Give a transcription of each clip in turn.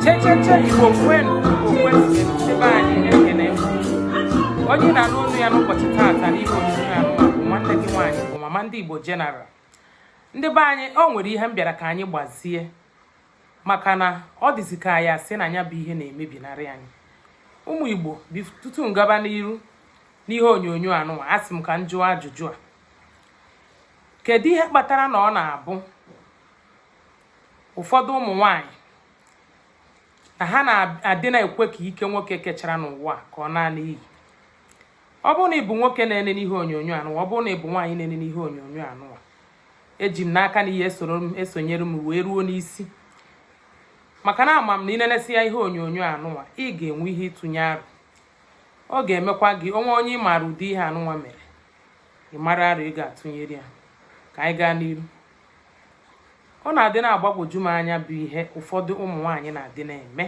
checheche igbo kwenu igbo kwezuenu ndị be anyị ekene m onye na-anụ onu ya n'ụbọchị taata n'ihe onyonyo anụwa nwanne gị nwaanyị bụ mama ndị igbo general ndị be anyị o nwere ihe m bịara ka anyị gbazie maka na ọ dịzi ka ya sị na nya bụ ihe na-emebinarị anyị ụmụ igbo tutu m gaba n'iru n'ihe onyonyo anụnwa asị m ka m jụọ ajụjụ a kedu ihe kpatara na ọ na-abụ ụfọdụ ụmụ nwanyị na ha na-adị na-ekwe ka ike nwoke kechara n'ụwa ka ọ naa n'iyi ọ bụrụ na ị bụ nwoke na-ene n'ihe onyonyo anụwa ọ bụrụ na ị bụ nwaanyị na-ene n'ihe onyonyo anụwa eji m n'aka na ị ya-esonyere m wee ruo n'isi maka na ama m na ị nenesịa ihe onyonyo anụwa ị ga-enwe ike ịtụnye aro ọ ga-emekwa gị o nwee onye ị maara ụdị ihe anụnwa mere ị mara aro ị ga-atụnyere ya ka anyị gaa n'iru ọ na-adị na-agbagwoju m anya bụ ihe ụfọdụ ụmụ nwaanyị na-adị na-eme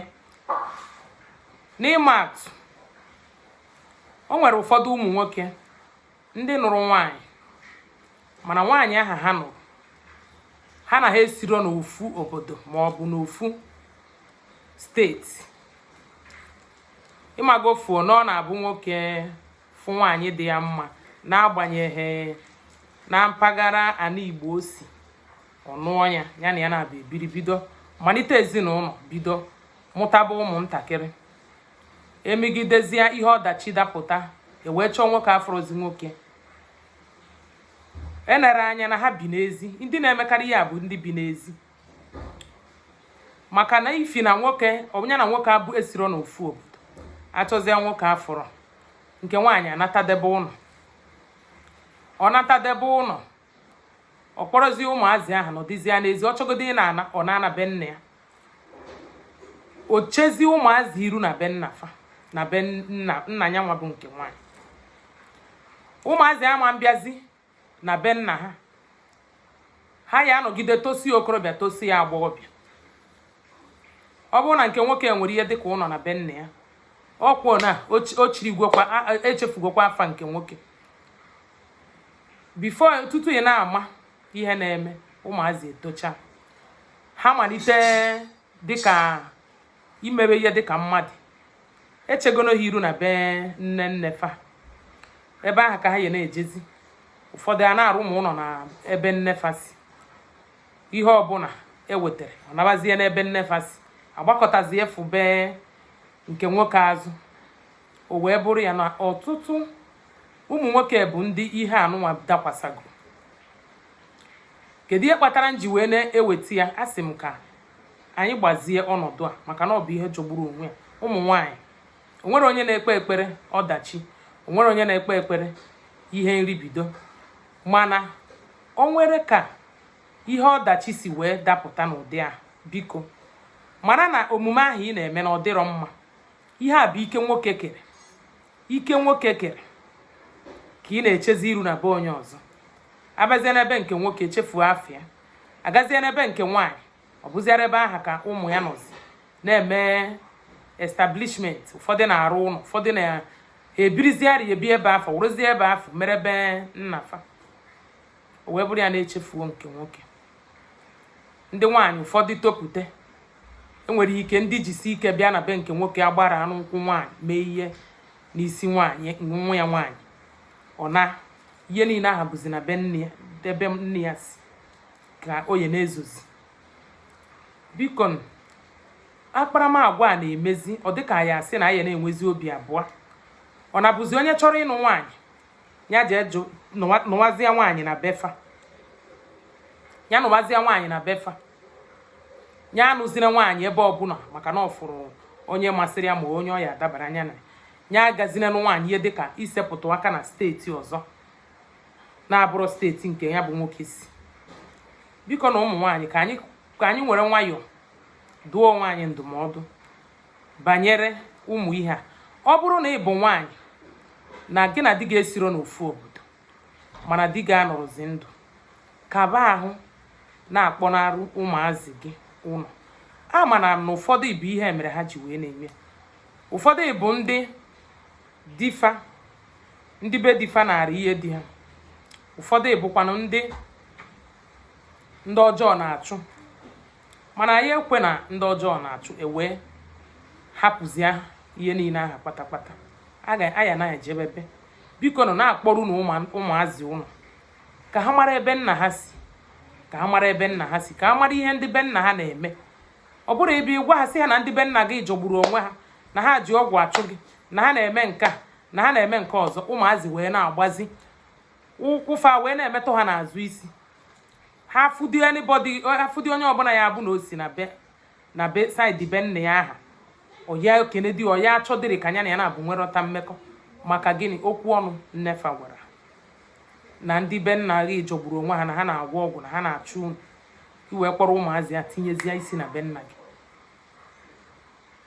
n'ịma atụ o nwere ụfọdụ ụmụ nwoke ndị nụrụ nwaanyị mana nwaanyị ahụ ha nụrụ ha na ha esiro n'ofu obodo ma ọ bụ n'ofu steeti ị mago fuo na ọ na-abụ nwoke fụ nwaanyị dị ya mma n'agbanyeghị na mpaghara anị Igbo o si ọ nụọ ya ya na ya abịa biri bido manite ezinụnọ bido mụtaba ụmụntakịrị emegidezie ihe ọdachi dapụta e wee chọọ nwoke afụrọzi nwoke enere anya na ha bi n'ezi ndị na-emekarị ya bụ ndị bi n'ezi maka n'ifi na nwoke onye na nwoke abụ esiro na ofu obodo achọzie nwoke afụrọ nke nwaanyị anatadebe ụnọ ọ natadebe ụnọ ọ kpọrọzie ụmụazị ahụ nọdịzie n'ezi ọ chọgodi ịna ọ na-ana be nna ya o chezie ụmụazị iru na be nna fa na be nna nna ya nwa bụ nke nwaanyị ụmụazị ama na-abịazi na be nna ha ha ya-anọgide tosie okorobịa tosie agbọghọbịa ọ bụrụ na nke nwoke nwere ihe dịka ụnọ na be nna ya ọ kwa na echefugokwa afa nke nwoke before tutu ị na-ama ihe na-eme ụmụazị etochaa ha manite dịka imewe ihe dịka mmadụ echegono ha iru na be nne nne fa ebe ahụ ka ha ya na-ejezi ụfọdụ a na-arụ ụmụ ụnọ na ebe nne fa si ihe ọbụla ewetara ọ nabazie n'ebe nne fa si agbakụtazi efu be nke nwoke azụ o wee bụrụ ya na ọtụtụ ụmụ nwoke bụ ndị ihe anụnwa dakwasagoro kedu ihe kpatara m ji wee na-eweta ya asị m ka anyị gbazie ọnọdụ a maka na ọ bụ ihe jọgburu onwe ya ụmụ nwaanyị onwere onye na-ekpe ekpere ọdachi onwere onye na-ekpe ekpere ihe nribido mana onwere ka ihe ọdachi si wee dapụta n'ụdị a biko mara na omume ahụ ị na-eme na ọ dịrọ mma ihe a bụ ike nwoke kere ike nwoke kere ka ị na-echezi iru na be onye ọzọ abazie n'ebe nke nwoke echefuo afa ya agazie na be nke nwaanyị ọ bụziara ebe aha ka ụmụ ya nọzi na-eme establishment ụfọdụ na-arụ ụlọ ụfọdụ na-ebiriziarị ebi ebe afụ werezie ebe afụ mere be nnafa o wee bụrụ ya na echefuo nke nwoke ndị nwaanyị ụfọdụ topute enwere ike ndị jisi ike bịa na be nke nwoke agbaranụ nkwụ nwaanyị mee ihe n'isi nwaanyị nwa ya nwaanyị ọ na ihe niile aha bụzi na be nne ya ebe nne ya si ka ọ ya na-ezozi biko akparamagwa a na-emezi ọ dịka a ya-asị na a ya na-enwezi obi abụa ọ na-abụzi onye chọrọ ịnụ nwaanyị ya jee jụ nụwazịa nwaanyị na befa ya nụwazịa nwaanyị na befa ya anụzire nwaanyị ebe ọbụla maka na ọ fụrụ onye masịrị ya ma onye ọ ya-adabara ya na ya agazina nụ nwaanyị ihe dịka isepụtụ aka na steeti ọzọ na-abụrọ steeti nke ya bụ nwoke si biko na ụmụ nwaanyị ka anyị ka anyị nwere nwayọọ duo onwe anyị ndụmọdụ banyere ụmụ ihe a ọ bụrụ na ị bụ nwaanyị na gị na di gị esiro n'ofu obodo mana di gị anọrọzi ndụ kaba ahụ na-akpọnarụ ụmụazị gị ụnọ a mana na ụfọdụ bụ ihe mere ha ji wee na-eme ụfọdụ bụ ndị difa ndị be difa nara ihe di ha ụfọdụ bụkwanụ ndị ndị ọjọọ na-achụ mana anyị ekwena ndị ọjọọ na-achụ ewee hapụzie ihe niile aha kpatakpata a ya na-ejebebe bikonụ na-akpọrunụ ụmụazị ụnọ ka ha mara ebe nna ha si ka ha mara ebe nna ha si ka ha mara ihe ndị be nna ha na-eme ọ bụrọ ị bịa gwa ha sị ha na ndị be nna gị jọgburu onwe ha na ha ji ọgwụ achụ gị na ha na-eme nke a na ha na-eme nke ọzọ ụmụazị wee na-agbazi ụkwụfa wee na-emetụ ha n'azụ isi ha afụdi onye ọbụla ya abụ na o si na be na be side be nna ya aha ọ ya ekenedi ọ ya achọdịrị ka ya na ya nabọ nwerịta mmekọ maka gịnị okwu ọnụ nnefa gwara na ndị be nna gị jọgburu onwe ha na ha na-agwọ ọgwụ na ha na-achụ unu ị wee kpọrọ ụmụazị ya tinyezie isi na be nna gị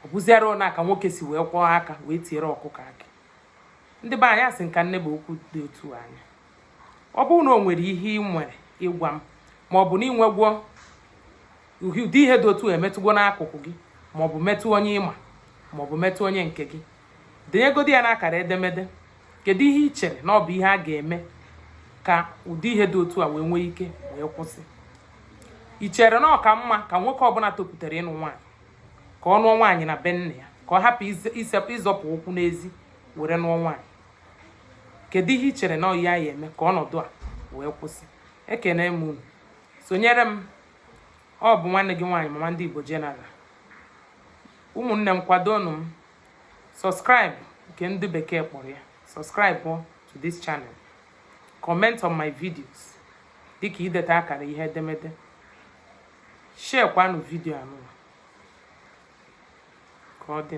ọ bụziara ụna ka nwoke si wee kwọọ aka wee tiere ọkụkọ akị ndị be anyị asị nka nne bụ okwu dị otu anya ọ bụrụ na o nwere ihe i nwere ịgwa m ma ọ bụ na i nwegwo ụdị ihe dị otu a emetụgo n'akụkụ gị maọbụ metụ onye ị ma maọbụ metụ onye nke gị denyegodi ya n'akara edemede kedu ihe ị chere na ọ bụ ihe a ga-eme ka ụdị ihe dị otu a wee nwee ike wee kwụsị ị chere na ọ ka mma ka nwoke ọbụla topụtara ịnụ nwaanyị ka ọ nụọ nwaanyị na be nna ya ka ọ hapụ ịzọpụ ụkwụ n'ezi were nụọ nwaanyị kedu ihe ị chere na anyị ga-eme ka ọnọdụ a wee kwụsị ekene m unu sonyere m ọ bụ nwanne gị nwaanyị mama ndị Igbo General ụmụnne m kwadonu m subscribe nke ndị bekee kpọrọ ya subscribe to this channel comment on my videos dịka ideta akara ihe edemede share kwanụ vidio anụwa ka ọ dị